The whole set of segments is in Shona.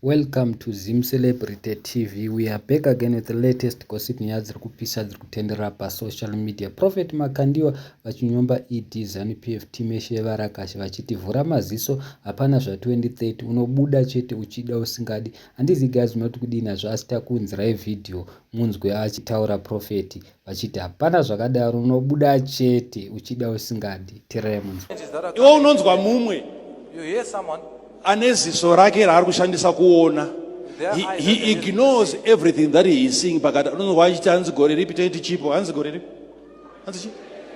Welcome to ZimCelebrity TV. We are back again with the latest gossip nyaya dziri kupisa dziri kutenderera pasocial media. Prophet Makandiwa vachinyomba ED Zanu PF team yeshe yevarakashi vachiti vhura maziso hapana zva 2030 unobuda chete uchida usingadi. Handizi guys munoti kudii nazvo asi takuunzirai video munzwe achitaura prophet. vachiti hapana zvakadaro unobuda chete uchida usingadi tiremunz iwe unonzwa mumwe ane ziso rake raari kushandisa kuona he, he ignores everything that he is seeing pakati unonzwa achiti hanzi gore ripi toiti chipo hanzi gore ripi hanzi chipo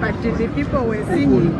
But the people were singing.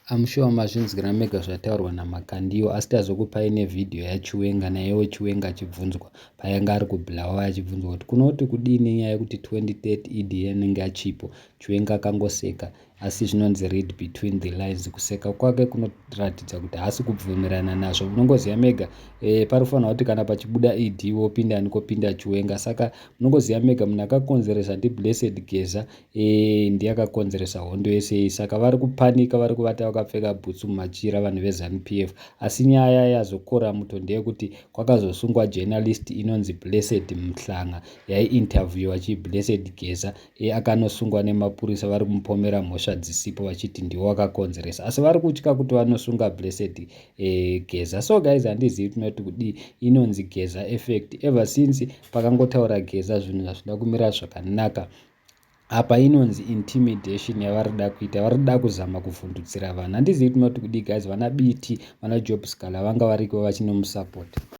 I'm sure mazvinzwira mega zvataurwa naMakandiwa asi tazokupai nevideo yaChiwenga nayewo Chiwenga achibvunzwa payanga ari kubulawa achibvunzwa kuti kunoti kudii nenyaya yekuti 2030 EDA anenge achipo Chiwenga akangoseka Asi zvinonzi read between the lines kuseka kwake kunoratidza kuti haasi kubvumirana nazvo munongoziva mega e, panofanira kuti kana pachibuda ed wopinda ani kopinda chiwenga saka munongoziva mega munhu akakonzeresa ndiblessed geza e, ndiye akakonzeresa hondo yese iyi saka vari kupanika vari kuvata vakapfeka bhutsu mumachira vanhu vezanup f asi nyaya yazokora muto ndeyekuti kwakazosungwa journalist inonzi blessed mhlanga yaiinterviewa chiblessed geza Iye akanosungwa nemapurisa vari kumupomera mhosva dzisipo vachiti ndiwo wakakonzeresa asi vari kutya kuti vanosunga Blessed e, Geza. So guys handizivi tinoti kudii inonzi Geza effect. Ever since pakangotaura Geza zvinhu hazvina kumira zvakanaka apa inonzi intimidation yavari da kuita vari da kuzama kuvhundutsira vanhu handizivi tinoti kudii guys vana bt vana job scaler vanga variko vachinomusapota